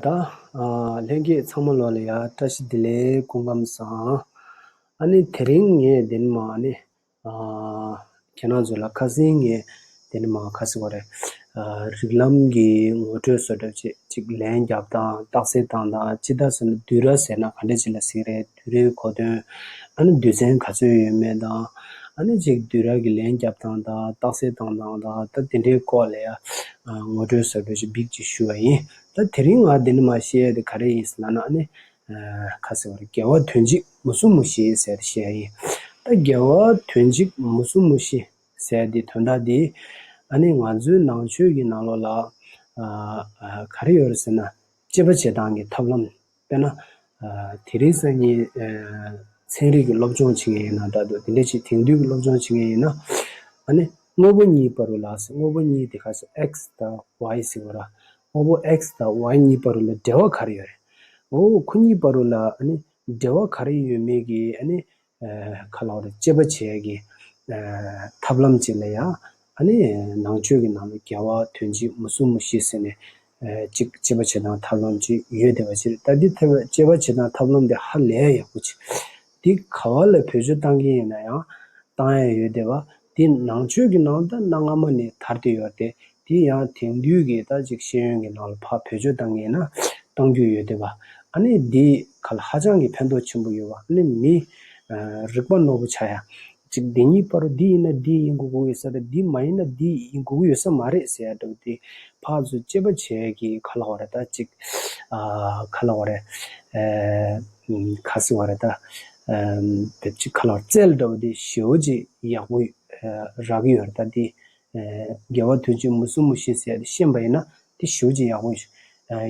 ད་ལྷན་རྒྱས་ཚང་མ་ལོག་ལ་ཡ་བཀྲ་ཤིས་བདེ་ལེགས་སྐུ་ཁམས་བཟང། ཨ་ནི་དེ་རིང་ངས་དེ་ནི་མ་ཨ་ནི། ཁྱེད་རང་ཚོ་ལ་ཁ་ཟིན་ངས་དེ་ནི་མ་ཁ་ཟི་བ་རེད། རིགས་ལམ་གྱི་ངོ་སྤྲོད་བཟོ་སྒྲབ་བྱེད་ཅིག་ལན་རྒྱབ་དང་རྟགས་གསལ་བཏང་དང་ཅི་ད་ཟེར་ན་དུས་ར་ཟེར་ན་ག་འདྲ་བྱེད་ལ་ཟིག་རེད་དུས་རའི་གོ་དོན་ཨ་ནི་དུས་ཚན་ག་ཚོད་ཡོད་མེད་དང་ཨ་ནི་ཅིག་དུས་ར་གི་ལན་རྒྱབ་དང་དང་རྟགས་གསལ་བཏང་དང་དང་ད་དེ་འདྲའི་སྐོར་ལ་ཡ་ངོ་སྤྲོད་བཟོ་སྒྲོབ་བྱེད་བིག་ཅིག་ཞུ་བ་ཡིན། ད་དེ་རིང་ང་འདི་འདྲ་མ་བཤད་དེ་ག་རེ་ཡིན་ཟེར་ན་ནི། ཁ་ཟེར་བ་རེད་རྒྱལ་བ་དོན་གཅིག་མུ་སུམ་མུ་བཞི་ཟེར་དེ་བཤད་ཡིན། ད་རྒྱལ་བ་དོན་གཅིག་མུ་སུམ་མུ་བཞི་ཟེར་དེ་དོན་དག་འདི། ཨ་ནི་ང་ཚོའི་ནང་ཆོས་ཀྱི་ནང་ལོགས་ལ། ག་རེ་ཡོད་རེད་ཟེར་ན། དཔྱད་པ་བྱེད་སྟངས་ཀྱི་ཐབས་ལམ། དཔེར་ན། དེ་རིང་སང་ཉིན། ཚན་རིག་གི་སློབ་སྦྱོང་བྱེད་མཁན་ཡིན་ན་ད་དུ་དེ་འདྲའི་ཆེས་དེང་དུས་ཀྱི་སློབ་སྦྱོང་བྱེད་མཁན་ཡིན་ན། ཨ་ནི། དངོས་པོ་གཉིས་པ་རུ་ལགས་སོ་དངོས་པོ་གཉིས་དེ་ག་ས X དང Y ཟེར་བ་ར། དངོས་པོ X དང Y གཉིས་པ་རུ་ལ་འབྲེལ་བ་ག་རེ་ཡོད་རེད། འོ་ཁོ་གཉིས་པ་རུ་ལ་ཨ་ནི། འབྲེལ་བ་ག་རེ་ཡོད་མེད་ཀྱི་ཨ་ནི། ཁ་ལག་རེ་གཅད་པ་བྱས་ཀྱི། ཐབས་ལམ་བྱས་ན་ཡང་ཨ་ནི་ནང་ཆོས་ཀྱི་ནང་ལ་རྒྱལ་བ་དོན་གཅིག་མ་གསུམ་མོ་ཤི་ཟེར་ནས། གཅིག་གཅད་པ་བྱེད་སྟངས་ཐབས་ལམ་གཅིག་ཡོད་དེ་བ་ཕྱིར་ལྟ་འདི་ཐབས་གཅད་པ་བྱེད་སྟངས་ཐབས་ལམ་དེ་ཧ་ལས་ཡག་པོ་བྱེད། འདི་ག་བ་ལ་བོད་ཆོས་གཏང་གིན་ཡོད་ན་ཡང་གཏང་ཡ་ཡོད་དེ་བ། འདི་ནང་ཆོས་ཀྱི་ནང་ད་གནའ་སྔ་མོ་ནས་དར་དེ་ཡོད་དེ། དེ་ཡང་དེང་དུས་ཀྱི་ད་ཅིག་ཤེས་ཡོན་གྱི་ནང་ལ་ཕ་བེད་སྤྱོད་བཏང་ངེས་ན་བཏང་རྒྱུ་ཡོད་དེ་བ། ཨ་ནི་འདི་ག་ལ་ཧ་ཅང་གི་ཕན་ཐོག་ཆེན་པོ་ཡོད་བ་ཨ་ནི་མི། རིག་པ་ནོར་བུ་ཆ་ཡ། ཅིག་འདི་གཉིས་པ་རུ་འདི་ཡིན་ན་འདི་ཡིན་དགོས་ཀྱི་ཡོད་ས་རེད་འདི་མ་ཡིན་ན་འདི་ཡིན་དགོས་ཀྱི་ཡོད་ས་མ་རེད་ཟེར་ཡ་འདྲ་བ་དེ་ཕག་ཚོས་དཔྱད་པ་བྱས་ཀྱི་ག་ལ་བ་རེད་ད་ཅིག། ག་ལ་བ་རེད། ག་སི་བ་རེད་ད། བེད་སྤྱི་ག་ལ་བ་རེད་རྩལ་འདྲ་བ་དེ་ཞེའོ་ཅིག་ཡག་པོ་རག་གི་ཡོད་རེད་ད་དེ་རྒྱལ་བ་དུས་ཀྱི་མུ་སུམ་མུ་ཤེས་ཟེར་ཤེས་པ་ཡིན་ན་དེ་བཞུགས་ཅི་ཡག་པོ་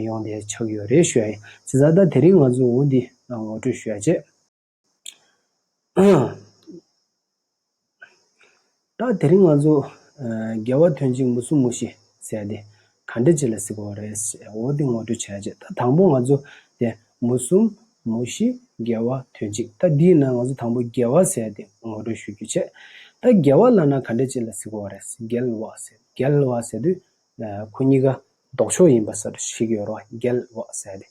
ཡོང་དེ་ཆགས་ཡོད་རེད་ཞོད་ཨེ་ཟེར་ས་ད་དེ་རིང་ང་ཚོ་འུ་འདི་ངོ་སྤྲོད་ཞོད་ཅེས། ད་དེ་རིང་ང་ཚོ་རྒྱལ་བ་དུས་ཀྱི་མུ་སུམ་མུ་ཤེས་ཟེར་དེ་ག་འདྲ་བྱས་ལ་གཟིགས་པ་བ་རེད་ཟེར་འོ་དེ་ངོ་སྤྲོད་བྱས་རྗེས་ད་དང་པོ་ང་ཚོ་དེ་མུ་གསུམ་མུ་བཞི་རྒྱལ་བ་དོན་གཅིག་ད་འདིའི་ནང་ང་ཚོ་དང་པོ་རྒྱལ་བ་ཟེར་དེ་ངོ་སྤྲོད་ཞུ་རྒྱུ་བྱས་ད་རྒྱལ་བ་ལ་ན་ག་འདྲ་བྱས་ལ་གཟིགས་པ་བ་རེད་རྒྱལ་བ་ཟེར་རྒྱལ་བ་ཟེར་དུས་ཁོ་གཉིས་ཀ་ལྡོག་ཕྱོགས་ཡིན་པ་སར་ཞིག་ཡོད་རོགས་རྒྱལ་བ་ཟེར་དེ་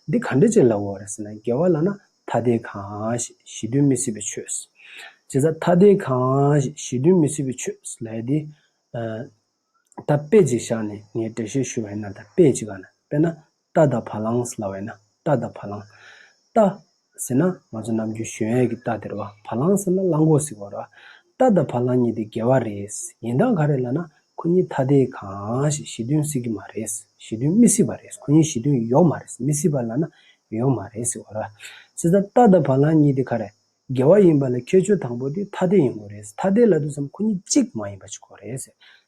འདི་ག་འདྲ་བྱས་ལ་བ་རེད་ཟེར་ན་རྒྱལ་བ་ལ་ན་ཐ་དད་གང་ཞིག་ཞི་དུལ་མི་སྲིད་པའི་ཆོས། བྱས་ཙང་ཐ་དད་གང་ཞིག་ཞི་དུལ་མི་སྲིད་པའི་ཆོས་ལས་དེ། ད་དཔེ་ཅིག་བཞག་ནས་ངས་འགྲེལ་བཤད་ཞུ་བས་ན་ད་དཔེ་ཅིག་ག་ན་དཔེ་ན་རྟ་དང་བ་ལང་ལ་བས་ན་རྟ་དང་བ་ལང། རྟ། ཟེར་ན་ང་ཚོ་ནམ་རྒྱུན་གཞོན་ཡས་ཀྱི་རྟ་དེར་བ་བ་ལང་ཟེར་ན་གླང་གོག་ཟིག་བར་བ། རྟ་དང་བ་ལང་གཉིས་དེ་འགལ་བ་རེད། ཡིན་དང་ག་རེད་ལ་ན་ཁོ་གཉིས་ཐ་དད་གང་ཞིག་ཞི་མཐུན་སྲིད་ཀྱི་མ་རེད། ཞི་མཐུན་མི་སྲིད་པ་རེད་ཁོ་གཉིས་ཞི་མཐུན་ཡོག་མ་རེད་མི་སྲིད་པ་ལ་ན་ཡོག་མ་རེད་ཟིག་བར་བ། ཟེར་ད་རྟ་དང་བ་ལང་གཉིས་དེ་ག་རེད། དགེ་བ་ཡིན་པ་ལ་ཁྱད་ཆོས་དང་པོ་དེ་ཐ་དད་ཡིན་གོ་རེད། ཐ་དད་ལ་དུས་སམ་ཁོ་གཉིས་གཅིག་མ་ཡིན་པ་ཅིག་གོ་རེད། བྱས་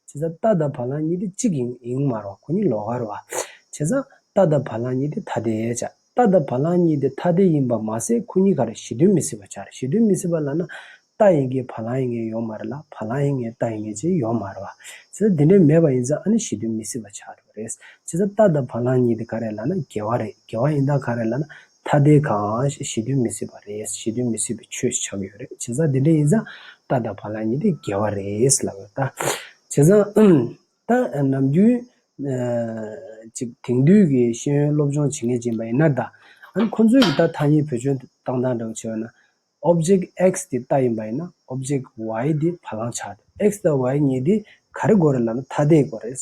ཙང་རྟ་དང་བ་ལང་གཉིས་དེ་གཅིག་ཡིན་ཡིན་མ་རུང་ཁོ་གཉིས་ལོག་ག་རུ་བ། བྱས་ཙང་རྟ་དང་བ་ལང་གཉིས་དེ་ཐ་དད། བྱས་རྟ་དང་བ་ལང་གཉིས་དེ་ཐ་དད་ཡིན་པ་མ་ཟད་ཁོ་གཉིས་ག་རེ་གཞི་མཐུན་མི་སྲིད་པ་ཆགས་རེད་གཞི་མཐུན་མི་སྲིད་པ་ལ་ན་རྟ་ཡིན་གྱི་བ་ལང་ཡིན་ངེས་ཡོང་མ་རེད་ལ་བ་ལང་ཡིན་ངེས་རྟ་ཡིན་ངེས་ཅིག་ཡོང་མ་རུང་བ། བྱས་ཙང་དེ་འདྲའི་མེད་པ་ཡིན་ཙང་ཨ་ནི་གཞི་མཐུན་མི་སྲིད་པ་ཆགས་འགྲོ་གི་རེད། བྱས་ཙང་རྟ་དང་བ་ལང་གཉིས་དེ་ག་རེ་ལ་ན་དགེ་བ་རེད་དགེ་བ་ཡིན་ད་ག་རེ་ལ་ན་ཐ་དད་ཁང་ཞེས་ཞེ་འདོད་མི་སྲིད་པ་རེད་ཞེ་འདོད་མི་སྲིད་པའི་ཆོས་ཞིག་ཆགས་ཡོད་རེད་བྱས་ཙང་དེ་འདྲ་ཡིན་ཙང་རྟ་དང་བ་ལང་གཉིས་དེ་འགལ་བ་རེད་ལབ་ཡོད་ད། བྱས་ཙང་ད་ནམ་རྒྱུན་ཅིག་དེང་དུས་ཀྱི་ཤེས་ཡོན་སློབ་སྦྱོང་བྱེད་མཁན་ཅིག་ཡིན་པ་ཡིན་ན་ད། ཨང་ཁོང་ཚོས་ཀྱི་ད་ཐ་སྙད་བེད་སྤྱོད་བཏང་སྟངས་འདྲ་བོ་བྱས་ཡོད་ན། Object X དེ་རྟ་ཡིན་པ་ཡིན་ན Object Y དེ་བ་ལང་ཆགས་ཐུབ X དང Y གཉིས་དེ་ག་རེ་དགོས་རེད་ལབ་ན་ཐ་དད་དགོས་རེད།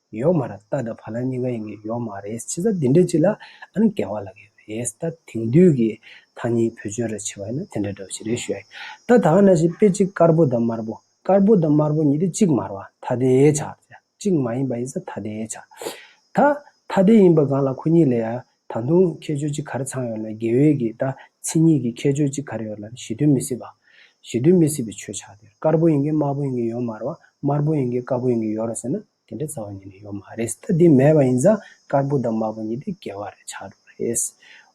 ཡོག་མ་ར་ཏཱ་དང་བྷ་ལ་གཉིས་ཀ་ཡིན་གྱི་ཡོག་མ་རེད་ཕྱི་ཟ་དེ་འདྲ་ཅིག་ལ་ཨ་ནི་འགལ་བ་ལ་གི་རེད་ད་དེང་དུས་ཀྱི་ཐ་སྙད་བོད་ཆོས་ར་ཆེ་བ་ཡིན་ན་དེ་འདྲ་འདྲ་བ་ཞིག་རེད་ཞུ་ཡ་ད་ད་ང་ན་ཞིག་དཔེ་གཅིག་དཀར་པོ་དང་དམར་པོ་དཀར་པོ་དང་དམར་པོ་གཉིས་དེ་གཅིག་མར་བ་ཐ་དེའི་ཆ་གཅིག་མ་ཡིན་པ་ཡིན་ས་ཐ་དེའི་ཆ་ད་ཐ་དེ་ཡིན་པ་གང་ལ་ཁོ་གཉིས་ལས་ཡ་ད་དུང་ཁྱད་ཆོས་གཅིག་གར་ཚང་ཡོད་ན་དགེ་འོས་ཀྱི་ལྟ་ཚིག་གཉིས་ཀྱི་ཁྱད་ཆོས་གཅིག་གར་ཡོད་ལ་ཞི་དུལ་མི་སྲིད་པ། ཞི་དུལ་མི་སྲིད་པའི་ཆོས་ཆགས་དེར་དཀར་པོ་ཡིན་གྱི་དམར་པོ་ཡིན་གྱི་ཡོད་མ་རེད་བ། དམར་པོ་ཡིན་གྱི་དཀར་པོ་ཡིན་གྱི་ཡོད་རེད་ཟེར་ན་དེ་འདྲའི་རྩ་བ་ཉིད་ནས་ཡོད་མ་རེད། ད་དེ་མེད་པ་ཡིན་ཙང་དཀར་པོ་དང་དམར་པོ་གཉིས་དེ་འགལ་བ་རེད་ཆགས་འགྲོ་རེད།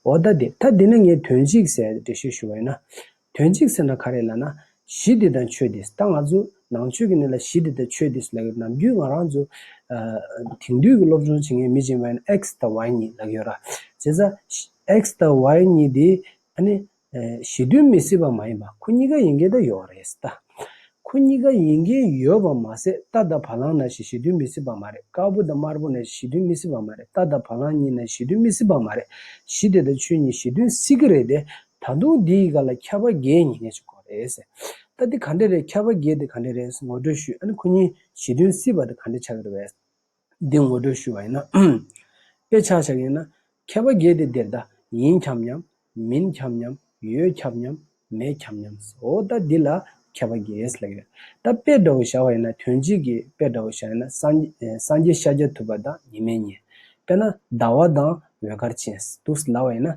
འོ་ད་དེ་ད་དེ་ན་ངས་དོན་གཅིག་གསལ་འགྲེལ་བཤད་ཞུ་བ་ཡིན་ན། དོན་གཅིག་ཟེར་ན་ག་རེ་ལ་ན། གཞི་འདི་དང་ཆོས་འདིས་ད་ང་ཚོ། ནང་ཆོས་ཀྱི་གནས་ལ་གཞི་འདི་དང་ཆོས་འདིས་ལག་ཡོད་ནམ་རྒྱུན་ང་རང་ཚོ། དེང་དུས་ཀྱི་སློབ་སྦྱོང་བྱེད་མཁན་མི་སྦྱིན་པ་ཡིན X དང Y གཉིས་ལག་ཡོད་ར། བྱས་ཙང། X དང Y གཉིས་དེ། ཨ་ནི། གཞི་དོན་མི་སྲིད་པ་མ་ཡིན་པ་ཁོ་གཉིས་ཀ་ཡིན་གྱི་ད་ཡོད་རེད་ད། ཁོ་གཉིས་ཀ་ཡིན་གྱི་ཡོད་པ་མ་ཟད་རྟ་དང་བ་ལང་ན་ཞིག་གཞི་དོན་མི་སྲིད་པ་མ་རེད་དཀར་པོ་དང་དམར་པོ་ན་ཞིག་གཞི་དོན་མི་སྲིད་པ་མ་རེད་རྟ་དང་བ་ལང་གཉིས་ན་ཞིག་གཞི་དོན་མི་སྲིད་པ་མ་རེད་གཞི་དེ་དང་ཆོས་གཉིས་གཞི་དོན་སྲིད་ཀྱི་རེད་དེ་ད་དུང་འདི་ཡི་ག་ལ་ཁྱབ་པ་རྒྱའི་ཉིན་ལས་ཅུང་གོ་རེད། ད་འདི་ག་འདྲ་རེད་ཁྱབ་པ་རྒྱའི་འདི་ག་འདྲ་རེད་ངོ་སྤྲོད་ཞུས་ཨ་ནི་ཁོ་གཉིས་ཞི་དོན་སྲིད་པ་འདི་ག་འདྲ་ཆགས་ཀྱི་རེད་བས། འདི་ངོ་སྤྲོད་ཞུས་བ་ཡིན་ན། དཔེ་ཆགས་ཆགས་ཡིན་ན། ཁྱབ་པ་རྒྱའི་འདི་འདིར་ད་ཡིན་ཁྱབ་སྙམ། མིན་ཁྱབ་སྙམ། ཡོད་ཁྱབ་སྙམ། མེད་ཁྱབ་སྙམ། འོ་ད་འདི་ལ་ཁྱབ་པ་རྒྱའི་ལས་ཡོད། ད་དཔེ་འདྲ་བོ་བཞག་པ་ཡིན་ན་དོན་གཅིག་གིས་དཔེ་འདྲ་བོ་བཞག་ཡིན་ན་སངས་རྒྱས་ཤཱཀྱ་ཐུབ་པ་དང་ཉི་མའི་གཉེན། དཔེར་ན་ཟླ་བ་དང་འོད་དཀར་ཅན། དུ་སླ་བ་ཡིན།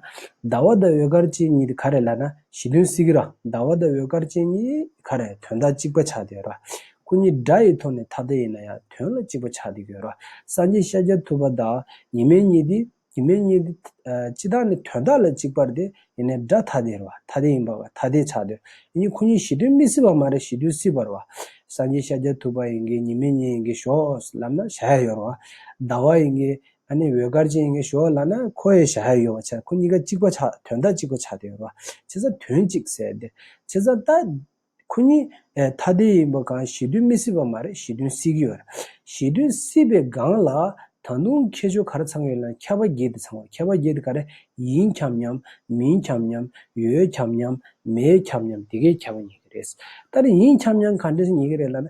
ཟླ་བ་དང་འོད་དཀར་ཅན་གཉིས་དེ་ག་རེད་ལབ་ན་གཞི་དོན་སྲིད་ཀི་ར། ཟླ་བ་དང་འོད་དཀར་ཅན་གཉིས་ག་རེད་དོན་དག་གཅིག་པ་ཆགས་དུས་ར། སྐུ་གཉིས་སྒྲ་ཡི་ཐོག་ནས་ཐ་དད་ཡིན་ན་ཡང་དོན་ལ་གཅིག་པ་ཆགས་དུས་ར། སངས་རྒྱས་ཤཱཀྱ་ཐུབ་པ་དང་ཉི་མའི་གཉིས་དེ་ཉི་མའི་གཉིས་དེ། སྤྱི་དག་ནི་དོན་དག་ལ་གཅིག་པར་དེ་ཡིན་ན་སྒྲ་ཐ་དད་ར། ཐ་དད་ཡིན་པ་བ་ཐ་དད་ཆགས་དུས་ཡིན་གཉིས་ཁོ་གཉིས་གཞི་དོན་མི་སྲིད་པ་མ་རེད་གཞི་དོན་སྲིད་པར་བ། སངས་རྒྱས་ཤཱཀྱ་ཐུབ་པ་ཡིན་གྱི་ཉི་མའི་གཉིས་ཡིན་གྱི་ཞོགས་ལབ་ན་བྱ་ཡ་ཡོད་ར་བ། ཟླ་བ་ཡིན་གྱི་ཨ་ནེ་འོད་དཀར་ཅན་གྱི་ཞོ་ལ་ན་ཁོ་ཡི་ཞྭ་ཡོད་པ་ཆགས་ཁོ་གཉིས་ཀ་གཅིག་པ་ཆགས་དོན་དག་གཅིག་པ་ཆགས་དེ་རོ་ཆེ་ས་དོན་གཅིག་ཟེར་དེ་ཆེ་ས་ད་ཁོ་གཉིས་ཨེ་ཐ་དེ་ཡིན་པ་གང་ཞེ་དུས་མི་སྲིད་པ་མ་རེད་ཞེ་དུས་སྲིད་ཀྱི་ཡོད་རེད་ཞེ་དུས་སྲིད་པའི་སྒང་ལ་ད་དུང་ཁྱེད་ཆོ་གར་ཚང་ཡོད་ལ་ཁྱད་པ་འགྱེད་དེ་ཚང་བ་ཁྱད་པ་འགྱེད་དེ་ག་རེ་ཡིན་འཁྱམ་སྙམ་མིན་འཁྱམ་སྙམ་ཡོད་འཁྱམ་སྙམ་མེད་འཁྱམ་སྙམ་དེ་གའི་ཁྱད་པ་ཉེ་གི་རེད་ད་རེ་ཡིན་འཁྱམ་སྙམ་ག་འདྲས་ཉེ་གི་རེད་ལ་ན་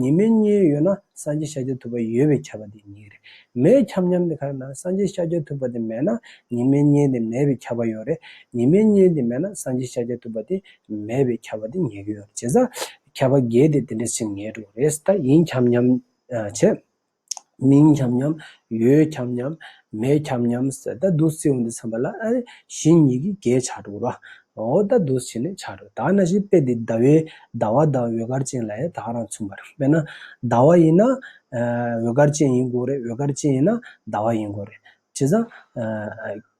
ཉི་མའི་གཉེན་ཡོད་ན་སངས་རྒྱས་ཤཱཀྱ་ཐུབ་པ་ཡོད་པའི་ཁྱབ་པ་དེ་ཉིད་རེད། མེའི་ཁྱབ་མཉམ་དེ་གར་ན་སངས་རྒྱས་ཤཱཀྱ་ཐུབ་པ་དེ་མེད་ན་ཉི་མའི་གཉེན་དེ་མེད་པའི་ཁྱབ་པ་ཡོད་རེད། ཉི་མའི་གཉེན་དེ་མེད་ན་སངས་རྒྱས་ཤཱཀྱ་ཐུབ་པ་དེ་མེད་པའི་ཁྱབ་པ་དེ་ཉིད་ཡོད་རེད་བྱས་ཙང། ཁྱབ་པ་འགལ་ཏེ་དེ་འདྲ་ཞིག་ངེས་འགྲོ་རེད། ད་ཡིན་ཁྱབ་མཉམ་བྱེད། མིང་འཁྱམས་སྙམ། ཡོད་འཁྱམས་སྙམ། མེད་འཁྱམས་སྙམ། ཟད་ད་དུ་སེའུ་འདི་ཚངས་པ་ལ། བཞི་ཉིད་ཀྱིས་བརྒྱད་ཆགས་དྲུག་རོ། འོ་ད་དུ་བྱེད་ནི་ཆགས་དྲུག་དག་ན་བཞི་དཔེ་འདི་ཟླ་བའི་ཟླ་བ་དང་འོད་དཀར་ཅན་ལ་ཡང་དག་རང་མཚུངས་པར་དཔེར་ན། ཟླ་བ་ཡིན་ན། འོད་དཀར་ཅན་ཡིན་དགོས་རེད་འོད་དཀར་ཅན་ཡིན་ན་ཟླ་བ་ཡིན་དགོས་རེད། བྱས་ཙང།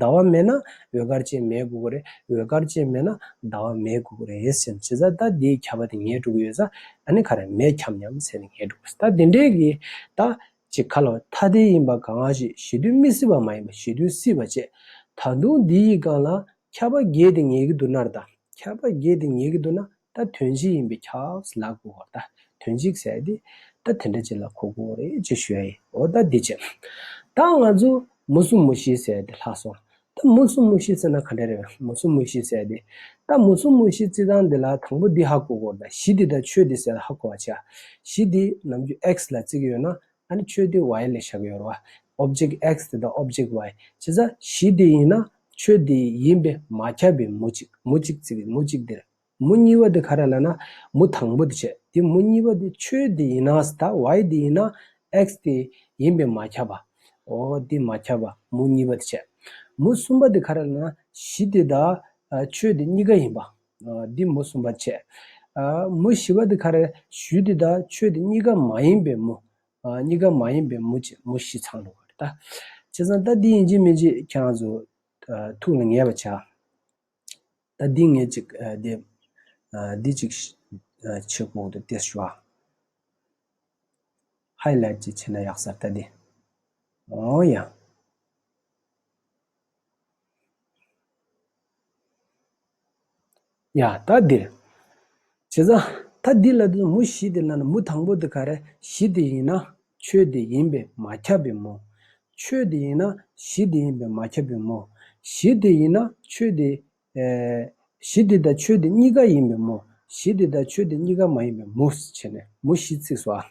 ཟླ་བ་མེད་ན་འོད་དཀར་ཅན་མའི་གུ་གུ་རེད། འོད་དཀར་ཅན་མེད་ན་ཟླ་བ་མའི་གུ་གུ་རེད་ཟེར། བྱས་ཙང་ད་དེའི་ཁྱབ་པ་དེ་ངའི་སྤྲུལ་སྐུ་ཡོད་ས་ད་ནི་ག་རེ་མེད་ཁྱབ་སྙམ་ཟེར་ནས་ངའི་སྤྲུལ་སྐུ་ཟེར། ད་དེ་འདྲས་ཀྱི་ད་ཅི་ཁ་ལོ་ཐ་དད་ཡིན་པ་གང་ལགས་ཞེས་ཞི་དུལ་མི་སྲིད་པ་མ་ཡིན་པ་ཞི་དུལ་སྲིད་པ་བཅས། ད་དུང་འདི་ཡི་སྒང་ལ་ཁྱབ་པ་བརྒྱད་དེ་ངེས་ཀྱི་འདུག་ནར་ད་ཁྱབ་པ་བརྒྱད་དེ་ངེས་ཀྱི་འདུག་ན་ད་དོན་གཅིག་ཡིན་པས་ཁྱགས་ལག་པོ་འོ་ད་དོན་གཅིག་ཟེར་ཏེ། ད་དེ་འདྲ་ཅིག་ལ་ཁོ་དགོངས་རེ་ཅིག་ཞུ་ཡ་ཡིན་འོ་ད་འདི་བྱེད། ད་ང་ཚོ་མུ་གསུམ་མུ་བཞི་ཟེར་ཏེ་ལྷག་སོང། ད་མུ་གསུམ་མུ་བཞི་ཟེར་ན་ག་འདྲ་རེད་མུ་གསུམ་མུ་བཞི་ཟེར་ཏེ། ད་མུ་གསུམ་མུ་བཞི་བརྩི་སྟངས་འདི་ལ་དང་པོ་འདི་ཧ་གོ་དགོས་ད་གཞི་འདི་དང་ཆོས་འདི་ཟེར་ན་ཧ་གོ་བ་ཆགས། གཞི་འདི་ནམ་རྒྱུན X ལ་བརྩི་གི་ཡོད་ན་ད་ནི་ཆོས་འདི Y ལས་བཞག་གི་ཡོད་རེད་བ། Object X དེ་དང Object Y བྱས་ཙང་གཞི་འདི་ཡིན་ན་ཆོས་འདི་ཡིན་པས་མ་ཁྱབ་པའི་མུ་གཅིག་མུ་གཅིག་བརྩི་གི་མུ་གཅིག་འདིར། མུ་གཉིས་པ་དེ་ག་རེ་ལ་ན་མུ་དང་པོ་དེ་བྱས་དེ་མུ་གཉིས་པ་དེ་ཆོས་དེ་ཡིན་ན་ད་ཝའི་དེ་ཡིན་ན་ཨེཀས་དེ་ཡིན་པས་མ་ཁྱབ་པ། འོ་དེ་མ་ཁྱབ་པ་མུ་གཉིས་པ་དེ་བྱས། མུ་གསུམ་པ་དེ་ག་རེ་ལ་ན་གཞི་དེ་ད་ཆོས་དེ་གཉིས་ཀ་ཡིན་པ། འདི་མུ་གསུམ་པ་དེ་བྱས། མུ་བཞི་པ་དེ་ག་རེ་གཞུ་དེ་ད་ཆོས་དེ་གཉིས་ཀ་མ་ཡིན་པས་མུ། གཉིས་ཀ་མ་ཡིན་པས་མུ་བྱས་མུ་བཞི་ཚང་འགྲོ་གི་རེད་ད། བྱས་ཙང་ད་འདི་ཡིན་གཅིག་མིན་གཅིག་ཁྱེད་རང་ཚོ་ཐུགས་ལ་ངེས་པ་བྱ། ད་འདི་ངས་ཅིག་འདེབས། འདི་ཅིག་ཕྱི་གོང་དུ་ཏེ་ཤོ། Highlight ཅིག་བྱས་ན་ཡག་སར་ད་འདི། འོ་ཡ། ཡ། ད་འདིར། བྱས་ཙང། ད་འདི་ལ་དེ་མུ་བཞི་དེ་ལ་ནི་མུ་དང་པོ་དེ་ག་རེ་བཞི་དེ་ཡིན་ན་ཆོས་དེ་ཡིན་པས་མ་ཁྱབ་བས་མོ། ཆོས་དེ་ཡིན་ན་བཞི་དེ་ཡིན་པས་མ་ཁྱབ་བས་མོ། བཞི་དེ་ཡིན་ན་ཆོས་དེ། བཞི་དེ་དང་ཆོས་དེ་གཉིས་ཀ་ཡིན་པས་མོ། བཞི་དེ་དང་ཆོས་དེ་གཉིས་ཀ་མ་ཡིན་པས་མུ། བྱས་ནས་མུ་བཞི་ཚིགས་སོ།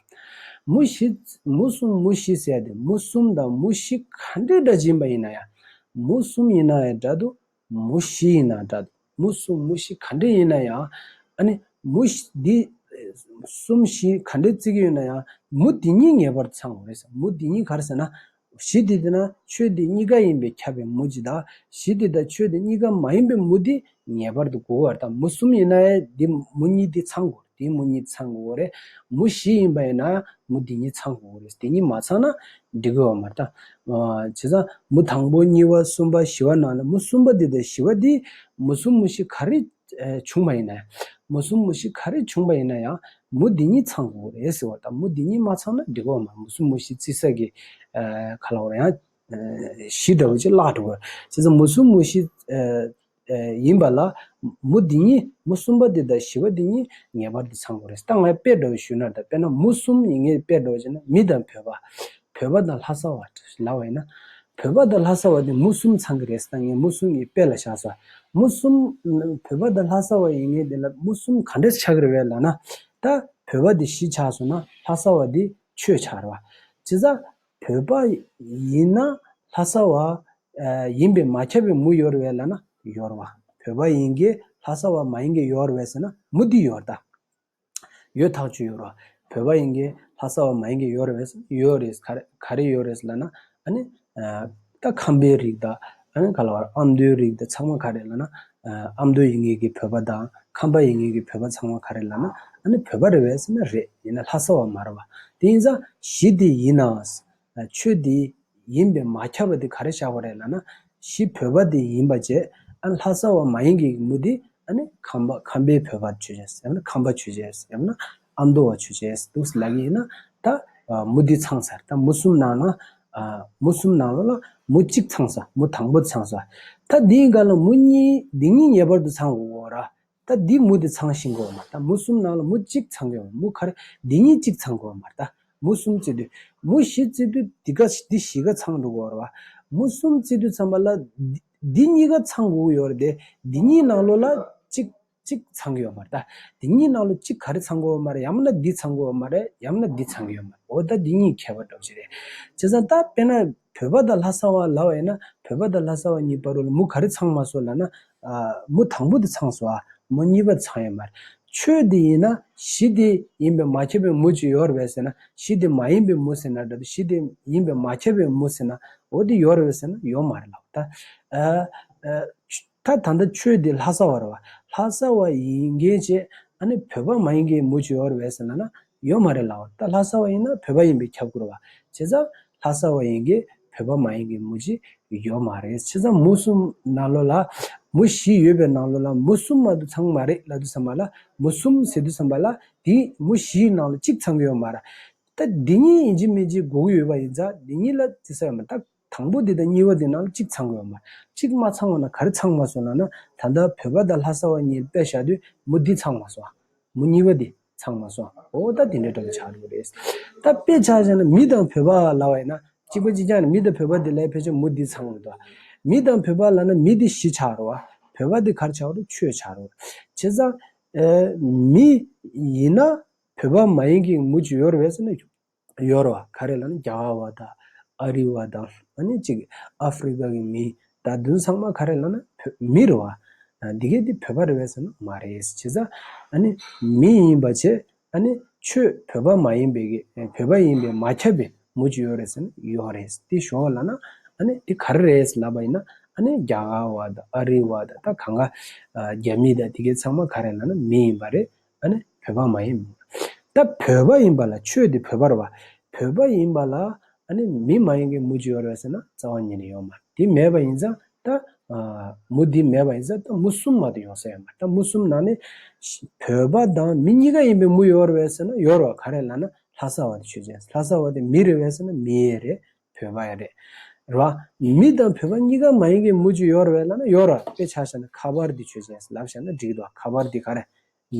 མུ་བཞི། མུ་གསུམ་མུ་བཞི་བྱས་ཏེ་མུ་གསུམ་དང་མུ་བཞི་ག་འདྲའི་སྒྲ་འབྱིན་པ་ཡིན་ན་ཡང་མུ་གསུམ་ཡིན་ན་ཡང་སྒྲ་དུ་མུ་བཞི་ཡིན་ན་འདྲ། མུ་གསུམ་མུ་བཞི་ག་འདྲེ་ཡིན་ན་ཡང། ཨ་ནི། མུ། འདི། གསུམ་བཞི་ག་འདྲེ་བརྩི་གི་ཡོད་ན་ཡང། མུ་འདི་གཉིས་ངེས་པར་ཚང་བ་རེད། མུ་འདི་གཉིས་གར་ཟེར་ན། བཞི་འདི་དེ་ན་ཆོས་འདི་གཉིས་ཀ་ཡིན་པས་ཁྱབ་པའི་མུ་ཇི་དག། བཞི་འདི་དང་ཆོས་འདི་གཉིས་ཀ་མ་ཡིན་པའི་མུ་འདི་ངེས་པར་དུ་དགོས་པར་ཐལ། མུ་གསུམ་ཡིན་ན་འི་འདི་མུ་གཉིས་འདི་ཚང་དགོས། དེའི་མུ་གཉིས་ཚང་དགོས་རེད། མུ་བཞི་ཡིན་པ་ཡིན་ན་མུ་དེ་གཉིས་ཚང་དགོས་རེད། དེ་གཉིས་མ་ཚང་ན་འགྲིག་གི་ཡོད་མ་རེད། བྱས་ཙང་མུ་དང་པོ་གཉིས་པ་གསུམ་པ་བཞི་བ་ནང་ལ་མུ་གསུམ་པ་དེ་དང་བཞི་བ་དེ་མུ་གསུམ་མུ་བཞི་ག་རེ་བྱུང་བ་ཡིན་ན་ཡང། མུ་གསུམ་མུ་བཞི་ག་རེ་བྱུང་བ་ཡིན་ན་ཡང་མུ་དེ་གཉིས་ཚང་དགོས་རེད་ཟེར་བ་དང་མུ་དེ་གཉིས་མ་ཚང་ན་འགྲིག་གི་ཡོད་མ་རེད། མུ་གསུམ་མུ་བཞི་བརྩི་ས་གི་ཁ་ལ་བོར་ཡང་བཞི་འདྲ་བོ་ཅིག་བརླག་འགྲོ་གི་ཡོད། བྱས་ཙང་མུ་གསུམ་མུ་བཞི། ཡིན་པ་ལ། མུ་འདི་གཉིས་མུ་གསུམ་པ་འདི་དང་བཞི་བ་འདི་གཉིས་ངེས་པར་དུ་ཚང་དགོས་རེད། ད་ངས་དཔེ་བསྒྲོགས་ཞུས་ན་དང་དཔེར་ན་མུ་གསུམ་ཡིན་ངེས་དཔེ་བསྒྲོགས་བྱས་ན་མི་དང་བོད་པ། བོད་པ་དང་ལྷ་ས་བ། ལ་བ་ཡིན་ན། བོད་པ་དང་ལྷ་ས་བ་དེ་མུ་གསུམ་ཚང་གི་རེད་ད་ངས་མུ་གསུམ་ཡིན་དཔེ་ལ་བཞག་ས། མུ་གསུམ། བོད་པ་དང་ལྷ་ས་བ་ཡིན་ངེས་དེ་ལ་མུ་གསུམ་ག་འདྲ་ཆགས་རེད་བས་ལ་ན། ད་བོད་པ་དེ་བཞི་ཆགས་སོང་ན་ལྷ་ས་བ་དེ་ཆོས་ཆགས་རེད་བ། བྱས་ཙང། བོད་པ་ཡིན་ན་ལྷ་ས་བ་ཡིན་པས་མ་ཁྱབ་པའི་མུ་ཡོར་བས་ལ་ན་ཡོར་བ། བོད་པ་ཡིན་གྱི་ལྷ་ས་བ་མ་ཡིན་གྱི་ཡོར་བས་ཟེར་ན་མུ་འདི་ཡོར་ད། ཡོད་ཐག་ཆོད་ཡོར་བ། བོད་པ་ཡིན་གྱི་ལྷ་ས་བ་མ་ཡིན་གྱི་ཡོར་བས་ཡོར་རེད་ག་རེ་ཡོར་རེད་ལ་ན་ཨ་ནི། ད་ཁམས་པའི་རིགས་དང། ག་ལ་བར་ཨ་མདོའི་རིགས་དེ་ཚང་མ་ག་རེད་ལ་ན། ཨ་མདོ་ཡིན་ངེས་ཀྱི་བོད་པ་དང་ཁམས་པ་ཡིན་ངེས་ཀྱི་བོད་པ་ཚང་མ་ག་རེད་ལ་ན། ཨ་ནི་བོད་པ་རེད་བས་སེམས་ན་རེད་ཡིན་ན་ལྷ་ས་བ་མ་རེད་བ། དེ་ཡིན་ཙང་གཞི་དེ་ཡིན་ནའང། ཆོས་དེ་ཡིན་པས་མ་ཁྱབ་པ་དེ་ག་རེ་བཞག་པ་རེད་ལ་ན། གཞི་བོད་པ་དེ་ཡིན་པ་བཅས་ཨ་ལྷ་ས་བ་མ་ཡིན་ངེས་ཀྱི་མུ་དེ་ཨ་ནི་ཁམས་པ་ཁམས་པའི་བོད་པར་བྱོས་བྱས་སམ་ཡང་ན་ཁམས་པ་བྱོས་བྱས་སམ་ཡང་ན། ཨ་མདོ་བ་ཆོས་རྗེ་སི་ཏུ་སི་ལ་གིས་ན། ད་མུ་དུས་ཚང་ས་ད་མུ་གསུམ་ནང་ན། མུ་གསུམ་ནང་ལ་ལ་མུ་གཅིག་ཚང་ས་མུ་དང་པོ་ཚང་ས། ད་འདི་འགའ་ལ་མུ་གཉིས་འདི་གཉིས་ངེས་པར་དུ་ཚང་དགོས་ར། ད་འདི་མུ་དེ་ཚང་ཤིང་དགོས་མ་ད་མུ་གསུམ་ནང་ལ་མུ་གཅིག་ཚང་གི་མུ་ཁར་འདི་གཉིས་གཅིག་ཚང་དགོས་མ་ད་མུ་གསུམ་བརྩི་དུས་མུ་བཞི་བརྩི་དུས་འདི་འགའ་འདི་བཞི་ག་ཚང་འགྲོ་དགོས་ར། མུ་གསུམ་བརྩི་དུས་ཚང་མ་ལ་འདི་གཉིས་ག་ཚང་དགོས་ཀྱི་ཡོད་ར་དེ་འདི་གཉིས་ནང་ལོ་ལ་གཅིག། གཅིག་ཚང་གི་ཡོད་མ་རེད་ད། དེ་གཉིས་ནང་ལོ་གཅིག་ག་རེ་ཚང་གི་ཡོད་མ་རེད་ཡང་མིན་ན་འདི་ཚང་གི་ཡོད་མ་རེད་ཡང་མིན་ན་འདི་ཚང་གི་ཡོད་མ་རེད་འོ་ད་འདི་གཉིས་ཁྱད་པར་འགྲོ་བཞིན་རེད། བྱས་ཙང་ད་དཔེར་ན་བོད་པ་དང་ལྷ་ས་བ་ལ་བ་ཡིན་ན་བོད་པ་དང་ལྷ་ས་བ་གཉིས་པ་རུ་ལ་མུ་ག་རེ་ཚང་མ་སོ་ལ་ན། མུ་དང་པོ་དེ་ཚང་སོ་ཨ་མོ་གཉིས་པ་ཚང་ཡོད་མ་རེད། ཆོས་དེ་ཡིན་ན་གཞི་དེ་ཡིན་པའི་མ་ཁྱབ་པའི་མུ་གཅིག་ཡོད་རེད་བས་ཟེར་ན་གཞི་དེ་མ་ཡིན་པའི་མུ་ཟེར་ན་རེད་དེ་གཞི་དེ་ཡིན་པའི་མ་ཁྱབ་པའི་མུ་ཟེར་ན་འོ་དེ་ཡོད་རེད་བས་ཟེར་ན་ཡོད་མ་རེད་ལགས། ད། ད་ད་ལྟ་ཆོས་འདི་ལྷ་ས་བར་བ་ལྷ་ས་བ་ཡིན་མཁན་བྱས་ཨ་ནི་བོད་པ་མ་ཡིན་མཁན་མུ་ཇོ་བར་བས་ས་ན་ན་ཡོད་མ་རེད་ལགས་ད་ལྷ་ས་བ་ཡིན་ན་བོད་པ་ཡིན་པའི་ཁྱབ་བསྐོར་བ་བྱས་ཙང་ལྷ་ས་བ་ཡིན་མཁན་བོད་པ་མ་ཡིན་མཁན་མུ་ཇི་ཡོད་མ་རེད་བྱས་ཙང་མུ་གསུམ་ན་ལོ་ལ་མུ་བཞི་ཡོད་པའི་ནང་ལོ་ལ་མུ་གསུམ་མ་དུ་ཚང་མ་རེད་ལ་དུ་ས་མ་ལ་མུ་གསུམ་ཟེར་དུ་ས་མ་ལ་དེ་མུ་བཞི་ནང་ལ་གཅིག་ཚང་གི་ཡོད་མ་ར་ད་འདི་གཉིས་ཡིན་གྱི་མིན་གྱི་གོ་གི་ཡོད་པ་ཡིན་ཙང་འདི་གཉིས་ལ་བརྩི་ས་ཡོད་མ་ད། དང་པོ་དེ་དང་གཉིས་པ་དེ་རྣམས་གཅིག་ཚང་དགོས་པ་མ་རེད། གཅིག་མ་ཚང་བ་ན་ག་རེ་ཚང་མ་སོང་ན་ན། ད་ལྟ་བོད་པ་དང་ལྷ་ས་བ་གཉིས་དཔེ་བཞག་དུས་མོ་འདི་ཚང་མ་སོང། མོ་གཉིས་པ་དེ་ཚང་མ་སོང། འོ་ད་དེ་འདྲའི་གྲོགས་པོ་ཆགས་འགྲོ་གི་རེད། ད་དཔེ་ཆ་བཞག་ན་མི་དང་བོད་པ་ལ་བ་ཡིན་ན་གཅིག་པ་གཅིག་ཆགས་ན་མི་དང་བོད་པ་དེ་ལས་ཕལ་ཆེར་མོ་འདི་ཚང་མ་འདུག། མི་དང་བོད་པ་ལ་ན་མི་དེ་བཞི་ཆགས་རོགས། བོད་པ་དེ་གར་ཆགས་རོགས་ཆོས་ཆགས་རོགས། བྱས་ཙང། མི། ཡིན་ན། བོད་པ་མ་ཡིན་གི་མོ་ཇི་ཡོར་བས་ན་ཡོད། ཡོར་བ་ག་རེ་ལ་ནི་རྒྱ་གར་བ་དང་ཨ་རི་བ་དང་ཨ་ནི་གཅིག་ཨ་ཧྥི་རི་ཀ་གི་མི་ད་དུང་ཚང་མ་ག་རེ་ལ་ན་བོད་མི་རེད་བ། འདི་གས་འདི་བོད་པ་རེད་བས་ཟེར་ན་མ་རེད་བྱས་ཙང་ཨ་ནི་མི་ཡིན་པ་བྱས་ཨ་ནི་ཆོས་བོད་པ་མ་ཡིན་པའི་གས་བོད་པ་ཡིན་པའི་མ་ཁྱབ་པའི་མུ་ཅི་ཡོད་རེད་ཟེར་ན་ཡོད་རེད་དེ་ཞོར་བ་ལ་ན་ཨ་ནི་དེ་ག་རེ་རེད་ལབ་པ་ཡིན་ན་ཨ་ནི་རྒྱ་གར་བ་དང་ཨ་རི་བ་དང་ད་གང་ག་རྒྱ་མི་དང་དེ་གས་ཚང་མ་ག་རེ་ལ་ན་མི་ཡིན་པ་རེད་ད་ནི་བོད་པ་མ་ཡིན། ད་བོད་པ་ཡིན་པ་ལ་ཆོས་འདི་བོད་པར་བ། བོད་པ་ཡིན་པ་ལ་མི་མ་ཡིན་གྱི་མུ་ཅི་ཡོད་རེད་ཟེར་ན་རྩ་བ་ཉིད་ནས་ཡོད་མ་རེད། འདི་མེད་པ་ཡིན་ཙང་ད་མུ་འདི་མེད་པ་ཡིན་ཙང་ད་མུ་གསུམ་མ་དེ་ཡོང་ས་ཡོད་མ་རེད། ད་མུ་གསུམ་ནང་ནས་བོད་པ་དང་མི་གཉིས་ཀ་ཡིན་པའི་མུ་ཡོད་རེད་ཟེར་ན་ཡོད་རེད། ག་རེ་ལ་ན་ལྷ་ས་བ་དེ་ཆོས་ཅན། ལྷ་ས་བ་དེ་མི་རེད་བས་ཟེར་ན་མི་ཡེ་རེད། བོད་པ་ཡང་རེད་རེད་བ། མི་དང་བོད་པ་གཉིས་ཀ་མ་ཡིན་གི་མུ་ཅི་ཡོར་བའི་ལ་ན་ཡོར་བ་དཔེ་ཆ་ཤ་ན་ཁ་པར་འདི་ཆོས་ཅན་ལབ་ཤ་ན་འགྲིག་འདུག་ཁ་པར་འདི་ག་རེད་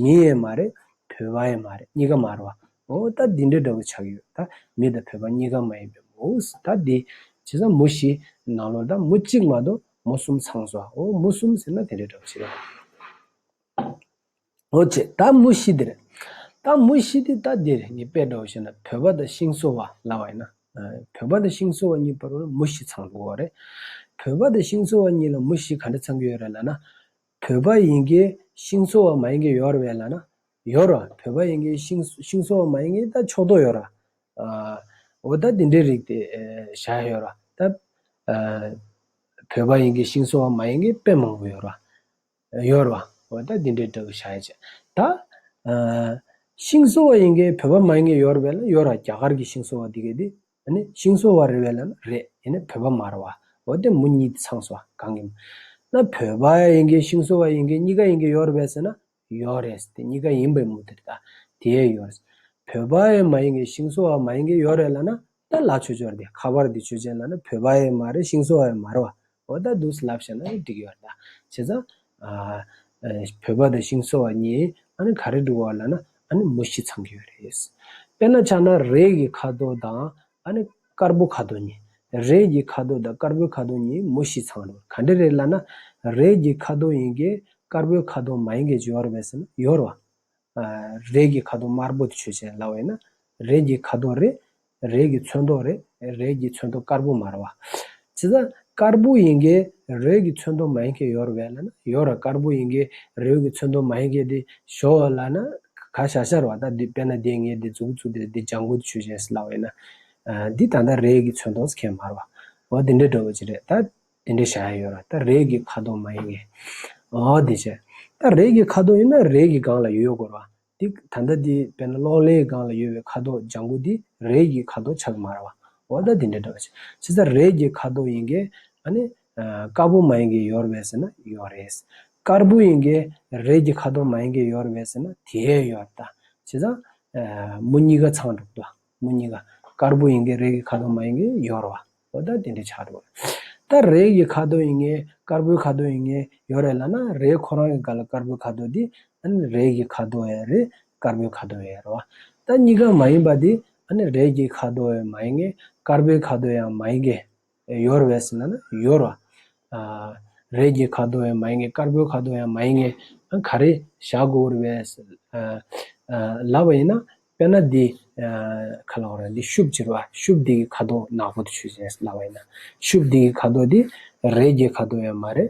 མི་ཡས་མ་རེད་བོད་པ་ཡས་མ་རེད་གཉིས་ཀ་མར་བ་ཨོ་ད་འདི་འདྲ་འདྲ་བོ་ཆགས་ཀྱི་ཡོད་ད་མི་དང་བོད་པ་གཉིས་ཀ་མ་ཡིན་པའི་མུ་ཨོ་ད་འདི་བྱས་ཙང་མུ་བཞི་ནང་ལོར་ད་མུ་གཅིག་མ་གཏོགས་མུ་གསུམ་ཚང་ཟོ་ཨོ་མུ་གསུམ་ཟེར་ན་དེ་འདྲ་འདྲ་བོ་བྱེད་ཀྱི་རེད། འོ་ཅེས་ད་མུ་ཤི་དིར། ད་མུ་ཤི་དི་ད་དིར་ནི་དཔེ་འདྲའོ་ཞེ་ན་བོད་པ་དང་ཤིང་བཟོ་བ་ལ་བ་ཡིན་ན། བོད་པ་དང་ཤིང་བཟོ་བ་གཉིས་བར་མུ་ཤི་ཚང་དགོས་བ་རེད། བོད་པ་དང་ཤིང་བཟོ་བ་གཉིས་ལ་མུ་ཤི་ག་འདྲ་ཚང་གི་ཡོད་རེད་ལ་ན། བོད་པ་ཡིན་གི་ཤིང་བཟོ་བ་མ་ཡིན་གི་ཡོད་རེད་ལ་ན། ཡོད་ར་བོད་པ་ཡིན་གི་ཤིང་ཤིང་བཟོ་བ་མ་ཡིན་གི་ད་ཕྱོགས་དོག་ཡོད་ར། འོ་ད་དེ་འདྲའི་རིགས་དེ་བཞག་ཡོད་ར། ད། བོད་པ་ཡིན་གི་ཤིང་བཟོ་བ་མ་ཡིན་གི་དཔེ་མང་པོ་ཡོད་ར། གཡོར་བ། འོད་དང་དེ་འདྲའི་སྒྲ་གི་ཆ་ཡ་བྱས། ད། ཤིང་བཟོ་བ་ཡིན་གྱི་བོད་པ་མ་ཡིན་གྱི་གཡོར་བས་ན་གཡོར་བ་རྒྱ་གར་གྱི་ཤིང་བཟོ་བ་འདི་གས་དེ། ཤིང་བཟོ་བ་རེད་བས་ན་རེད་ཡིན་ན་བོད་པ་མ་རེད་བ། འོད་དེ་མོ་གཉིས་དེ་ཚངས་བཟོ་བ་གང་གི། ན་བོད་པ་ཡིན་གྱི་ཤིང་བཟོ་བ་ཡིན་གྱི་གཉིས་ཀ་ཡིན་གྱི་གཡོར་བས་ཟེར་ན། གཡོར་རེད་དེ་གཉིས་ཀ་ཡིན་པའི་མུ་དེར་ད། དེ་ཡས་གཡོར། བོད་པ་ཡས་མ་ཡིན་གྱི་ཤིང་བཟོ་བ་མ་ཡིན་གྱི་གཡོར་རེད་ལ་ན། ད་ལ་ཆོས་འབྱོར་དེ་ཁ་པར་དེ་ཆོས་ཅན་ལ་ན་བོད་པ་ཡས་མ་རེད་ཤིང་བཟོ་བ་ཡས་མ་རེད་བ། འོ་ད་དུས་ལབ་བྱས་ན་ཨེ་འགྲིག་ཡོད་ལ། བྱས་ཙང། བོད་པ་དང་ཤིང་བཟོ་བ་གཉིས་ཨ་ནི་ག་རེ་འགྲོ་བ་ལ་ན་ཨ་ནི་མུ་བཞི་ཚང་གི་ཡོད་རེད། དཔེར་ན་ཆགས་ན་རས་ཀྱི་ཁ་དོག་དང་ཨ་ནི་དཀར་པོ་ཁ་དོག་གཉིས། རས་ཀྱི་ཁ་དོག་དང་དཀར་པོའི་ཁ་དོག་གཉིས་མུ་བཞི་ཚང་རེད། ག་འདྲ་རེད་ལ་ན། རས་ཀྱི་ཁ་དོག་ཡིན་གྱི་དཀར་པོའི་ཁ་དོག་མ་ཡིན་གྱི་ཇོ་བར་བས་ན་ཡོར་བ། རས་ཀྱི་ཁ་དོག་དམར་པོ་དེ་ཆོས་ཅན་ལ་བས་ན། རས་ཀྱི་ཁ་དོག་རེད། རས་ཀྱི་ཚོན་མདོག་རེད། རས་ཀྱི་ཚོན་མདོག་དཀར་པོ་མར་བ། ཇི་ལྟར་དཀར་པོ་ཡིན་གྱི་རས་ཀྱི་ཚོན་མདོག་མ་ཡིན་གྱི་ཡོར་བས་ན། ཡོར་དཀར་པོ་ཡིན་གྱི་རས་ཀྱི་ཚོན་མདོག་མ་ཡིན་གྱི་དེ་ཞོ་བ་ལ་ན། ག་ཤར་ཤར་བ་དང་དེ་དཔེར་ན་དེ་ངས་དེ་འཛུགས་འཛུགས་དེ་དེ་ལྗང་གུ་དེ་ཆོས་ཅན་ལ་བས་ན། འདི་ད་ལྟ་རས་ཀྱི་ཚོན་མདོག་ཁྱད་མར་བ། འོ་དེ་འདྲས་འགྲོ་བ་ཅི་རེད་ད། དེ་འདྲའི་བྱ་ཡ་ཡོད་ར་ད་རེས་ཀྱི་ཁ་དོག་མ་ཡིན་ངེས། འོ་དེ་བྱས། ད་རེས་ཀྱི་ཁ་དོག་ཡིན་ན་རེས་ཀྱི་སྒང་ལ་ཡོད་དགོས་ར་དེ། ད་ལྟ་དེ་དཔེར་ན་གློག་ཀླད་ཀྱི་སྒང་ལ་ཡོད་པའི་ཁ་དོག་ལྗང་གུ་དེ་རེས་ཀྱི་ཁ་དོག་ཆགས་ཀྱི་མ་ར་བ། འོ་ད་དེ་འདྲའི་འདྲ་བ་བྱས། བྱས་ཙང་རེས་ཀྱི་ཁ་དོག་ཡིན་གྱི། ཨ་ནི། དཀར་པོ་མ་ཡིན་གྱི་ཡོད་རེད་ཟེར་ན་ཡོད་རེད། དཀར་པོ་ཡིན་གྱི། རེས་ཀྱི་ཁ་དོག་མ་ཡིན་གྱི་ཡོད་རེད་ཟེར་ན་དེའི་ཡོད་ར་ད། བྱས་ཙང། མོ་གཉིས་ཀ་ཚང་འགྲོ་གི་འདུག། མོ་གཉིས་ཀ་དཀར་པོ་ཡིན་གྱི་རེག་གི་ཁ་དོག་མ་ཡིན་གྱི་ཡོར་བ་ཨོ་ད་དེ་འདྲའི་ཆགས་འགྲོ་ད་རེག་གི་ཁ་དོག་ཡིན་གྱི་དཀར་པོའི་ཁ་དོག་ཡིན་གྱི་ཡོར་རེད་ལ་ན་རེག་ཁོ་རང་གི་ག་ལ་དཀར་པོའི་ཁ་དོག་དེ་ཨ་ནི་རེག་གི་ཁ་དོག་ཡ་རེད་དཀར་པོའི་ཁ་དོག་ཡ་རེད་བ་ད་གཉིས་ཀ་མ་ཡིན་པ་དེ་ཨ་ནི་རེག་གི་ཁ་དོག་ཡང་མ་ཡིན་གྱི་དཀར་པོའི་ཁ་དོག་ཡང་མ་ཡིན་གྱི། ཡོར་བས་ཟེར་ན་ནི་ཡོར་བ། རས་ཀྱི་ཁ་དོག་ཡང་མ་ཡིན་ངེས་དཀར་པོའི་ཁ་དོག་ཡང་མ་ཡིན་ངེས། ག་རེ་བྱ་དགོས་བས། ལབ་པ་ཡིན་ན་དཔེར་ན་འདི། ཁ་ལག་ར་འདི་ཤུབ་ཅེར་བ་ཤུབ་འདི་ཀྱི་ཁ་དོག་ནག་པོ་དུ་ཆུ་ཟེར་ལབ་པ་ཡིན་ན། ཤུབ་འདི་ཀྱི་ཁ་དོག་འདི་རས་ཀྱི་ཁ་དོག་ཡང་མ་རེད།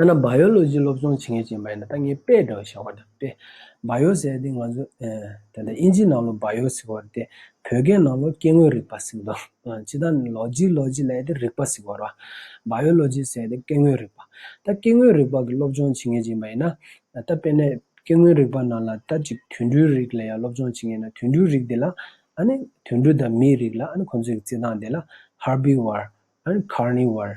ཡང་ན་བཱ་ཡོ་ལོ་ཇི་སློབ་སྦྱོང་བྱེད་མཁན་ཞིག་མ་ཡིན་ན་ད་ངས་པེ་ཏོ་ཞེས་བ་ད་པེ། བཱ་ཡོ་ཟེར་ཏེ་ང་ཚོ། ད་ལྟ་དབྱིན་ཇིའི་ནང་ལོ་བཱ་ཡོ་ཟེར་བ་རེད་དེ། བོད་སྐད་ནང་ལོ་སྐྱེ་དངོས་རིག་པ་ཟེར་གི་འདུག་ཇི་ལྟར་ལོ་ཇི་ལོ་ཇི་ལས་དེ་རིག་པ་ཟེར་བར། བཱ་ཡོ་ལོ་ཇི་ཟེར་ཏེ་སྐྱེ་དངོས་རིག་པ། ད་སྐྱེ་དངོས་རིག་པ་གི་སློབ་སྦྱོང་བྱེད་མཁན་ཞིག་མ་ཡིན་ན། ད་དཔེར་ན། སྐྱེ་དངོས་རིག་པ་ནང་ལ་ད་ཅིག་དུད་འགྲོའི་རིགས་ལ་ཡང་སློབ་སྦྱོང་བྱེད་མཁན་ན་དུད་འགྲོའི་རིགས་དེ་ལ། ཨཱ་ནི། དུད་འགྲོ་དང་མིའི་རིགས་ལ་ཨཱ་ནི་ཁོང་ཚོའི་གི་རྩིས་སྟངས་དེ་ལ། Herbivore། ཨཱ་ནི། Carnivore།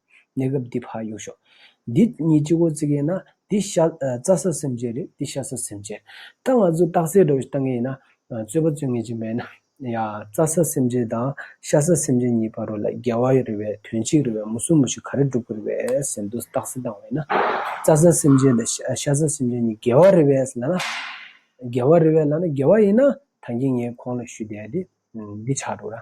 གནས་སྐབས་འདི་བར་དབྱུང་ཤོག། འདི་གཉིས་སྤྱི་གོ་ཙི་གེ་ན། འདི་ཤ་རྩ་ས་སེམས་ཅན་རེད་འདི་ཤ་ས་སེམས་ཅན། ད་ང་ཚོ་རྟགས་གསལ་སྒྲོག་བཏང་ངེས་ཡིན་ན། རྩོད་པ་རྩོད་ངེས་ཅན་མེད་ན། ཡ། རྩ་ས་སེམས་ཅན་དང་ཤ་ས་སེམས་ཅན་གཉིས་བར་རོ་ལ་འགལ་བ་རེ་བའི་དོན་གཅིག་རེ་བའི་མུ་སུམ་མུ་ཞིག་ག་རེ་བསྒྲུབ་དགོས་རེ་བའི་ཟེར་འདུག་རྟགས་གསལ་བཏང་བས་ན། རྩ་ས་སེམས་ཅན་དང་ཤ་ས་སེམས་ཅན་གཉིས་འགལ་བ་རེ་བའི་ལ་ན། འགལ་བ་རེ་བའི་ལ་ན་འགལ་བ་ཡིན་ན། ད་ངས་ངའི་ཁོང་ལ་ཞུས་བསྡད་དེ་འདི་ཆགས་འགྲོ་ར།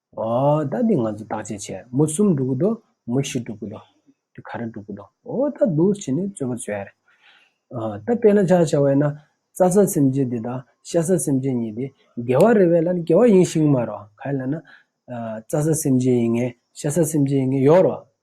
ཨོ་ད་འདི་ང་ཚོ་བརྟག་དཔྱད་བྱས་མོ་གསུམ་འགྲུབ་གི་འདུག་མོ་བཞི་འགྲུབ་གི་འདུག་འདི་ག་རེ་འགྲུབ་གི་འདུག་ཨོ་ད་འདུག་བྱས་ནས་རྩོད་པོ་བྱོས་ཨ་རེ། ཨོ་ད་དཔེར་ན་ཆ་བྱ་བས་ན་རྩྭ་ས་སེམས་ཅན་འདི་དང་ཤ་ས་སེམས་ཅན་གཉིས་འདི་འགལ་བ་རེད་བས་ལ་ནི་འགལ་བ་ཡིན་ཞིང་མ་རོག་ག་ལ་ན། རྩྭ་ས་སེམས་ཅན་ཡིན་ངེས་ཤ་ས་སེམས་ཅན་ཡིན་ངེས་ཡོག་རོག།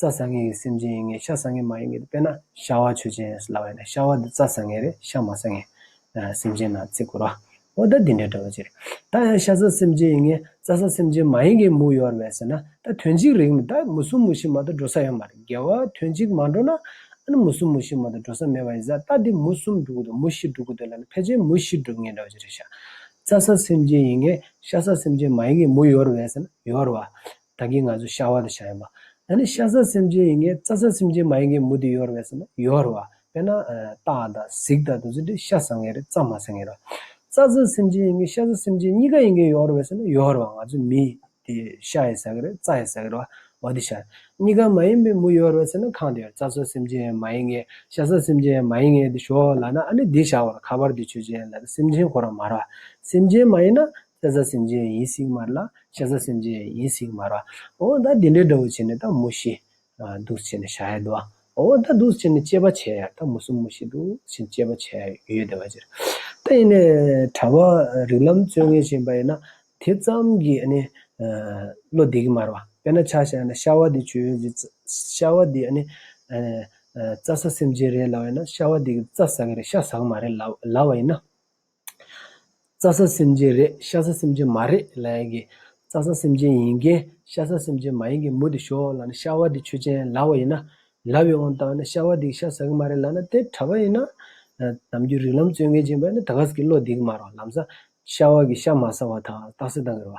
རྩྭ་ཟ་མཁན་གྱི་སེམས་ཅན་ཡིན་ངེས་ཤ་ཟ་མཁན་མ་ཡིན་ངེས་དཔེར་ན་ཤ་བ་ཆོས་ཅན་ལ་བས་ན་ཤ་བ་འདི་རྩྭ་ཟ་མཁན་རེད་ཤ་མ་ཟ་མཁན་སེམས་ཅན་ན་ཚེ་བསྐུར་བ་འོ་ད་འདི་འདྲའི་འདྲ་བོ་ཅི་རེད། ད་ཡང་ཤ་ཟ་སེམས་ཅན་ཡིན་ངེས་རྩྭ་ཟ་སེམས་ཅན་མ་ཡིན་ངེས་མུ་ཡོར་བས་ཟེར་ན་ད་དོན་གཅིག་རིག་མི་ད་མུ་གསུམ་མུ་བཞི་མ་ད་འགྲོ་ས་ཡོད་མ་རེད་དགེ་བ་དོན་གཅིག་མ་འགྲོ་ན་ཨ་ན་མུ་གསུམ་མུ་བཞི་མ་ད་འགྲོ་ས་མེད་པ་ཡིན་ས་ད་འདི་མུ་གསུམ་འགྲུབ་གི་འདུག་མུ་བཞི་འགྲུབ་གི་འདུག་ལ་ན་ཕལ་ཆེར་མུ་བཞི་འགྲུབ་ངེས་འདྲ་བོ་ཅི་རེད་ཤ་རྩྭ་ཟ་སེམས་ཅན་ཡིན་ངེས་ཤ་ཟ་སེམས་ཅན་མ་ཡིན་ངེས་མུ་ཡོར་བས་ཟེར་ན་ཡོར་བ་ད་གིན་ང་ཚོ་ཤ་བ་དང་ཤ་ཡིན་པ། ད་ནི་ཤ་ཟ་སེམས་ཅན་ཡིན་གྱི་རྩ་ཟ་སེམས་ཅན་མ་ཡིན་གྱི་མུ་དེ་ཡོར་བས་སོ་ན་ཡོར་བ། དཔེར་ན། སྟག་དང་གཟིག་དང་དུ་ཟ་དེ་ཤ་ཟ་ངེས་རེད་རྩ་མ་ཟ་ངེས་རེད། རྩ་ཟ་སེམས་ཅན་ཡིན་གྱི་ཤ་ཟ་སེམས་ཅན་གཉིས་ཀ་ཡིན་གྱི་ཡོར་བས་སོ་ན་ཡོར་བ་ང་ཚོ་མི། དེ་ཤ་ཡི་ཟ་གི་རེད་རྩ་ཡི་ཟ་གི་རེད་བ། བ་དེ་ཤ། གཉིས་ཀ་མ་ཡིན་པའི་མུ་ཡོར་བས་སོ་ན་གང་དུ་ཡོར་རྩ་ཟ་སེམས་ཅན་མ་ཡིན་གྱི་ཤ་ཟ་སེམས་ཅན་མ་ཡིན་གྱི་དེ་ཞོག་ལ་ན་ཨ་ནི་དེ་ཤ་བར་ཁ་པར་དེ་ཆོས་ཅན་ལ་དེ་སེམས་ཅན་གོ་ར་མར་བ། སེམས་ཅན་མ་ཡིན་ན། ཤ་ཟ་སེམས་ཅན་ཡིད་བསྲེགས་མར་ལ། ཤ་ཟ་སེམས་ཅན་ཡིད་བསྲེགས་མར། ཨོ་ད་དེ་འདྲའི་དགྲ་བོ་བྱས་ནས་ད་མུ་ཤི། སྡུག་བྱས་ནས་ཤ་ཡ་དུ། ཨོ་ད་སྡུག་བྱས་ནས་སྐྱེས་པ་བྱས་ཡ་ད་མུ་སུ་མུ་ཤི་སྡུག་བྱས་ནས་སྐྱེས་པ་བྱས་ཡ་ཡོད་དེ་བ་ཅི། ད་ཡིན་ནས་གྲྭ་བ་རིགས་ལམ་བརྩོད་ངན་བྱེད་པ་ཡིན་ན་དེ་ཙམ་གྱིས་ཨ་ནི། བློ་བདེ་གི་མར་བ། དཔེར་ན་ཆ་ཤ་ན་ཤ་བ་དེ་བྱོས་ཡོད་ཟི། ཤ་བ་དེ་ཨ་ནི། རྩ་ཟ་སེམས་ཅན་རེད་ལབ་ཡིན་ན་ཤ་བ་དེ་གི་རྩ་ཟ་གི་རེད་ཤ་ཟ་གི་མ་རེད་ལབ་ལབ་བ་ཡིན་ན། རྩྭ་ས་སེམས་ཅན་རེད་ཤ་ས་སེམས་ཅན་མ་རེད་ལ་ཡང་གི། རྩྭ་ས་སེམས་ཅན་ཡིན་གྱི་ཤ་ས་སེམས་ཅན་མ་ཡིན་གྱི་མུ་དེ་ཞོག་ལ་ནི་ཤ་བ་དེ་ཆོས་ཅན་ལ་བ་ཡིན་ན། ལ་བའི་དབང་དང་ནི་ཤ་བ་དེ་གི་ཤ་ཟ་གི་མ་རེད་ལ་ན་དེ་གྲ་བ་ཡིན་ན། ནམ་རྒྱུན་རིགས་ལམ་རྩོད་མཁན་ཅན་པ་ནི་ད་ག་ཟེ་གི་བློ་འདི་གི་མ་རོ་ལམ་ས། ཤ་བ་གི་ཤ་མ་ཟ་བ་དང་རྟགས་སེ་དང་གི་ར་བ།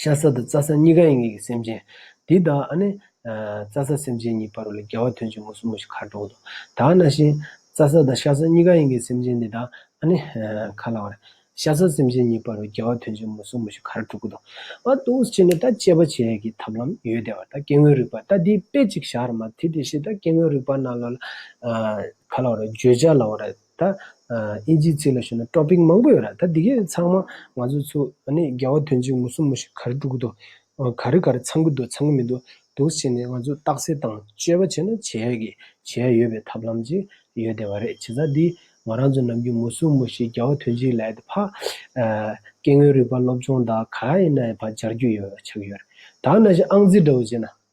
ཤ་ཟ་དང་རྩ་ཟ་གཉིས་ཀ་ཡིན་ངེས་ཀྱི་སེམས་ཅན། འདི་དག་ནི། རྩ་ཟ་སེམས་ཅན་གཉིས་པར་ལ་རྒྱལ་བ་དོན་གཅིག་མུ་སུམ་མོ་ཞིག་ཁར་འགྲོ་དགོས་ཏོ། དག་ན་བཞིན། རྩ་ཟ་དང་ཤ་ཟ་གཉིས་ཀ་ཡིན་ངེས་སེམས་ཅན་འདི་དག་ནི། ཁ་ལ་བ་རེ། ཤ་ཟ་སེམས་ཅན་གཉིས་པར་ལ་རྒྱལ་བ་དོན་གཅིག་མུ་སུམ་མོ་ཞིག་ཁར་འགྲོ་དགོས་ཏོ། ཨ་ཏུ་ཨུས་ཅི་ནི་ད་དཔྱད་པ་བྱེད་ཡས་ཀྱི་ཐབས་ལམ་ཡོད་དེ་བ་ད་སྐྱེ་དངོས་རིག་པ་ད་དེའི་དཔེ་གཅིག་བཞག་ར་མ་དྷི་དེ་བཞིན་ད་སྐྱེ་དངོས་རིག་པ་རྣམས་ལ། ཁ་ལ་བ་རེ་བརྗོད་བྱ་ལ་བ་རེ། ད། ཨིན་ཇིའི་ཚིག་ལ་ཞུ་ན Topic མང་པོ་ཡོད་ར་ད་འདི་གས་ཚང་མ་ང་ཚོ་ཚོ་ཨ་ནི་རྒྱལ་བ་དོན་གཅིག་མུ་སུམ་མུ་ཞིག་ག་རེ་སྤྲུག་གི་འདུག་ག་རེ་ག་རེ་ཚང་གི་འདུག་ཚང་གི་མི་འདུག་འདུག་བྱས་ནས་ང་ཚོ་རྟགས་གསལ་དང་དཔྱོད་པ་བྱས་ན་བྱས་ཡས་གི་བྱས་ཡས་ཡོད་པའི་ཐབས་ལམ་ཅིག་ཡོད་བསྡད་པ་རེད་བྱས་ཙང་འདི་ང་རང་ཚོ་ནམ་རྒྱུན་མུ་སུམ་མུ་ཞིག་རྒྱལ་བ་དོན་གཅིག་ལས་ད་ཕག་སྐད་ངོས་རིག་པ་སློབ་སྦྱོང་དག་ག་ཡས་ན་ཡས་ཕག་སྦྱར་རྒྱུ་ཡོད་ཆགས་ཡོད་ར་ད་ན་ཞིག་ཨང་རྩིས་འདྲ་བོ་བྱས་ན་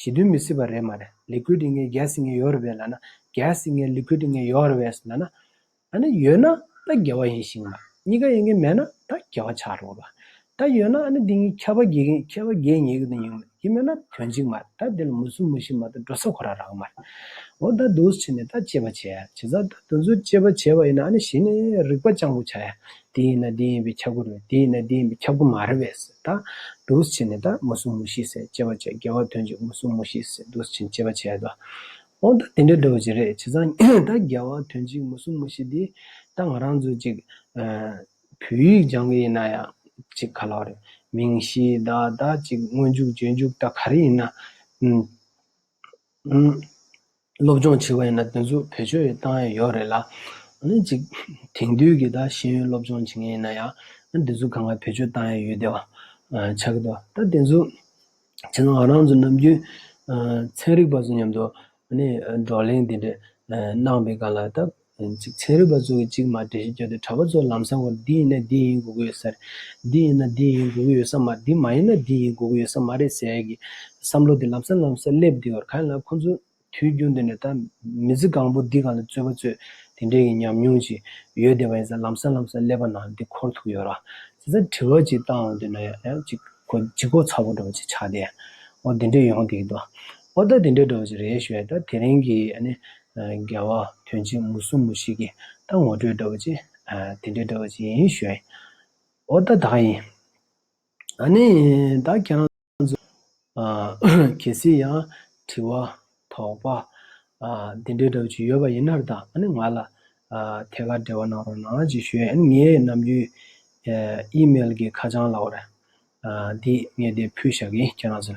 ཞི་དུལ་མི་སྲིད་པ་རེད་མ་རེད Liquid ངའི་རྒྱལ་སྲིད་ངའི་ཡོད་རེད་བས་ལ་ན་རྒྱལ་སྲིད་ངའི Liquid ངའི་ཡོད་རེད་བས་ལ་ན་ད་ནི་ཡོད་ན་ད་རྒྱལ་བ་ཡིན་ཞིང་གཉིས་ཀ་ཡིན་གྱི་མེད་ན་ད་རྒྱལ་བ་ཆགས་རོགས་ར་ད་ཡོད་ན་ནི་འདི་གཉིས་ཁྱད་པར་འགྱེད་གིན་ཁྱད་པར་འགྱེད་ཉེས་གིན་ཡིན་གྱི་མེད་ན་དོན་གཅིག་མ་རེད་ད་འདི་ལ་མུ་གསུམ་མུ་བཞི་མ་ད་འགྲོ་ས་ཁོ་ར་རག་མ་རེད་འོ་ད་འདུག་བྱས་ནས་ད་དཔྱད་པ་བྱས་བྱས་ཙང་ད་དུ་འཛུལ་དཔྱད་པ་བྱས་པ་ཡིན་ན་ནི་གཞི་ནས་རིག་པ་སྤྱང་པོ་ཆགས་ཡ་འདི་ཡིན་ན་འདི་ཡིན་པའི་ཁྱབ་སྒོ་རེད་འདི་ཡིན་ན་འདི་ཡིན་པའི་ཁྱབ་སྒོ་མ་རེད་བས་སེ་ད་འདུག་བྱས་ནས་ད་མུ་གསུམ་མུ་ཤི་སེ་ཅེས་པ་བྱས་དགེ་བ་དོན་ཅིག་མུ་གསུམ་མུ་ཤི་སེ་འདུག་བྱས་ཅེས་པ་བྱས་ད་འོ་ད་དེ་འདྲ་འདྲ་བོ་ཅིག་རེད་བྱས་ཙང་ད་དགེ་བ་དོན་ཅིག་མུ་གསུམ་མུ་ཤི་འདི་ད་ང་རང་ཚོས་ཅིག་བོད་ཡིག་སྦྱང་གི་ཡིན་ན་ཡང་ཅིག་ག་ལ་རེད་མིང་གཞི་ད་ད་ཅིག་སྔོན་འཇུག་རྗེས་འཇུག་ད་ག་རེ་ཡིན་ན་སློབ་སྦྱོང་བྱེད་པ་ཡིན་ན་དེ་ཚོ་བེད་སྤྱོད་ཡོད་གཏང་ཡ་ཡོད་རེད་ལ། ཨཱ་ནི་ཅིག་དེང་དུས་ཀྱི་ད་ཤེས་ཡོན་སློབ་སྦྱོང་བྱེད་མཁན་ཡིན་ན་ཡང། ཨཱ་ནི་དེ་ཚོ་གང་ག་བེད་སྤྱོད་གཏང་ཡ་ཡོད་དེ་བ། ཆགས་ཀྱི་འདུག་ད་དེ་ཚོ། བྱས་ན་ང་རང་ཚོ་ནམ་རྒྱུན། ཚན་རིག་པ་ཚོ་མཉམ་དུ། ཨཱ་ནི་བགྲོ་གླེང་དེ་འདྲ། གནང་པའི་སྐབས་ལ་ད། གཅིག་ཚན་རིག་པ་ཚོ་གི་གཅིག་མ་འདྲེས་བརྗོད་དེ་གྲྭ་པ་ཚོ་ལམ་སང་བར་འདི་ཡིན་ན་འདི་ཡིན་དགོས་ཀྱི་ཡོད་ས་རེད། འདི་ཡིན་ན་འདི་ཡིན་དགོས་ཀྱི་ཡོད་ས་མ་འདི་མ་ཡིན་ན་འདི་ཡིན་དགོས་ཀྱི་ཡོད་ས་མ་རེད་ཟེར་གྱི། བསམ་བློ་དེ་ལམ་སང་ལམ་སང་སླེབས་བསྡད་ཡོད་ཁ་ཡིན་ལ་ཁོང་ཚོ་དུས་རྒྱུན་དུ་ནས་ད་མི་ཚེ་གང་པོ་འདི་ག་ལ་རྩོད་པ་རྩོད་དེ་འདྲས་ཀྱི་ཉམས་མྱོང་ཅིག་ཡོད་བསྡད་པ་ཡིན་ས་ལམ་སང་ལམ་སང་སླེབས་པ་ན་འདི་འཁོར་ཐུག་ཡོད་ར། ཟེར་ས་དྲི་བ་ཅིག་བཏང་འོང་དུས་ན་ཡང་ཅིག་ཁོ་ལྗིད་ཁོག་ཚ་བོ་འགྲོ་བ་ཅིག་ཆགས་བསྡད། འོ་འདི་འདྲས་ཡོང་བསྡད་ཀྱི་འདུག་ཨ། འོ་ད་འདི་འདྲས་འགྲོ་བ་ཅིག་རེད་ཞུས་ཡ་ད་དེ་རིང་གི་རྒྱལ་བ་དོན་བྱེད་མུ་སུམ་མུ་ཞིག་གིས་ད་ངོ་སྤྲོད་འདྲ་བོ་ཅི། དེ་འདྲའི་འདྲ་བོ་ཅི་ཡིན་ཞོན། འོ་ད་བདག་ཡིན། ད་ནི་བདག་ཁྱེད་རང་ཚོ། གལ་སྲིད་ཡང་དྲི་བ། དོགས་པ། དེ་འདྲའི་འདྲ་བོ་ཅི་ཡོད་པ་ཡིན་ན་ར་ད་ང་ལ། ཐད་ཀར་འབྲེལ་བ་གནང་རོགས་གནང་ཅིག་ཞོན། ངའི་ནམ་རྒྱུན། email གི་ཁ་བྱང་ལ་འོ་ར། འདི་ངས་དེ་ཕུལ་བཞག་གིས་ཁྱེད་རང་ཚོ།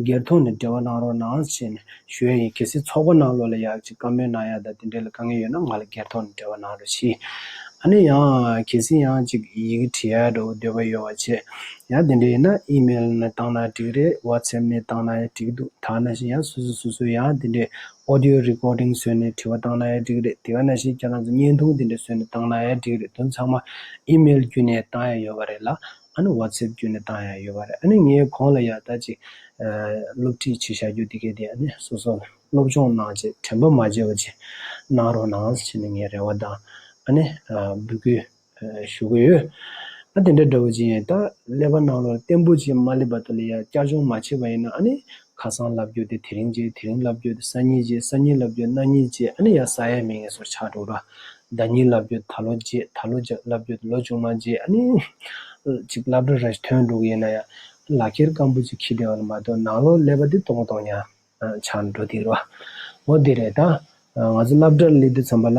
སྒེར་ཐོག་ནས་འབྲེལ་བ་གནང་རོགས་གནང་ཞེས་ནས་ཞུ་ཡ་ཡིན་གལ་སྲིད་ཚོགས་པ་ནང་ལོགས་ལ་ཡག་ཅིག་བཀའ་མོལ་གནང་ཡག་དང་དེ་འབྲེལ་ལ་དཀའ་ངལ་ཡོད་ན་ང་ལ་སྒེར་ཐོག་ནས་འབྲེལ་བ་གནང་རོགས་ཞི། ཨ་ནི་ཡང་གལ་སྲིད་ཡང་ཅིག་ཡི་གེ་བྲི་ཡག་འགྲོ་འདོད་པ་ཡོད་བ་བྱས། ཡང་དེ་འདྲ་ཡིན་ན་ཨི་མེལ་ནས་བཏང་ན་འགྲིག་རེད་བྷ་ཚེབ་ནས་བཏང་ན་ཡང་འགྲིག་འདུག་ཐ་ན་ཞིག་ཡང་སོ་སོས་སོ་སོའི་ཡང་དེ་འདྲའི Audio Recording བཟོས་ནས་བྲི་བ་བཏང་ན་ཡང་འགྲིག་རེད་དེ་ག་ན་ཞིག་ཁྱེད་རང་ཚོ་བརྙན་ཐུང་དེ་འདྲ་བཟོས་ནས་བཏང་ན་ཡང་འགྲིག་རེད་དོན་ཚང་མ་ཨི་མེལ་བརྒྱུད་ནས་བཏང་ཡག་ཡོད་བ་རེད་ལ། ཨ་ནུ Whatsapp བརྒྱུད་ནས་བཏང་ཡག་ཡོད་པ་རེད་ཨ་ནི་ངས་གོང་ལ་ཡག་ད་ཅིག་སློབ་ཁྲིད་བྱེད་བཞག་རྒྱུ་དེ་གས་དེ་ཨ་ནི་སོ་སོ་སློབ་སྦྱོང་གནང་བྱེད་དྲན་པ་མ་བརྗེད་པ་ཅིག་གནང་རོགས་གནང་ཞེས་ནས་ངས་རེ་བ་དང་ཨ་ནི་འབུལ་སྐུལ་ཞུ་གི་ཡོད། ཨ་དེ་འདྲ་འདྲ་བོ་ཅིག་ཡིན་ད་ཀླད་པ་གནང་རོགས་བརྟན་པོ་ཅིག་མ་སླེབས་པ་དེ་ལ་ཡག་བསྐྱར་སྦྱོང་མ་བྱས་པ་ཡིན་ན་ཨ་ནི་ཁ་སང་བསླབ་རྒྱུ་དེ་དེ་རིང་བྱས་དེ་རིང་བསླབ་རྒྱུ་དེ་སང་ཉིན་བྱས་སང་ཉིན་བསླབ་རྒྱུ་གནངས་ཉིན་བྱས་ཨ་ནི་ཡང་ས་ཡ་མེད་ངེས་སོར་ཆགས་འགྲོ་གྲ། ཟླ་གཉིས་བསླབ་རྒྱུ་ད་ལོ་བྱས་ད་ལོ་བསླབ་རྒྱུ་དེ་ལོ་ཅུང་མ་བྱས་ཨ་ནི། ཅིག་བསླབ་གྲ་ར་ཐོན་འགྲོ་གི་ཡིན་ན་ཡང། ལག་ཁྱེར་སྐམ་པོ་ཅིག་ཁྱི་བདེ་བ་ལ་མ་གཏོགས་ནང་ལོག་ཀླད་པ་དེ་གཏོང་གཏོང་ཡང། ཆགས་འགྲོ་དེ་རེད་བ། འོ་དེ་རེད་ད། ང་ཚོ་བསླབ་གྲ་ཀླད་དུ་འཚམས་པ་ལ།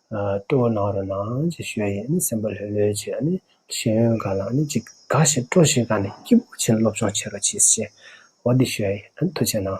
སྤྲོ་བ་ནང་རུ་ནང་ཅིག་ཤོས་ཡིན་ནི་སེམས་པ་ལྷོད་ལྷོད་ཅིག་ཨ་ནི་ཤེས་ཡོན་འགའ་ལ་ནི་ཅིག་འགའ་ཞིག་སྤྲོ་ཞིག་ག་ནི་སྐྱིད་པོ་བྱེད་སློབ་སྦྱོང་བྱེད་རོགས་གྱིས་ཤེས་བ་འདི་ཤོས་ཡིན་ཨ་ནི་ཐུགས་ཆེ་གནང།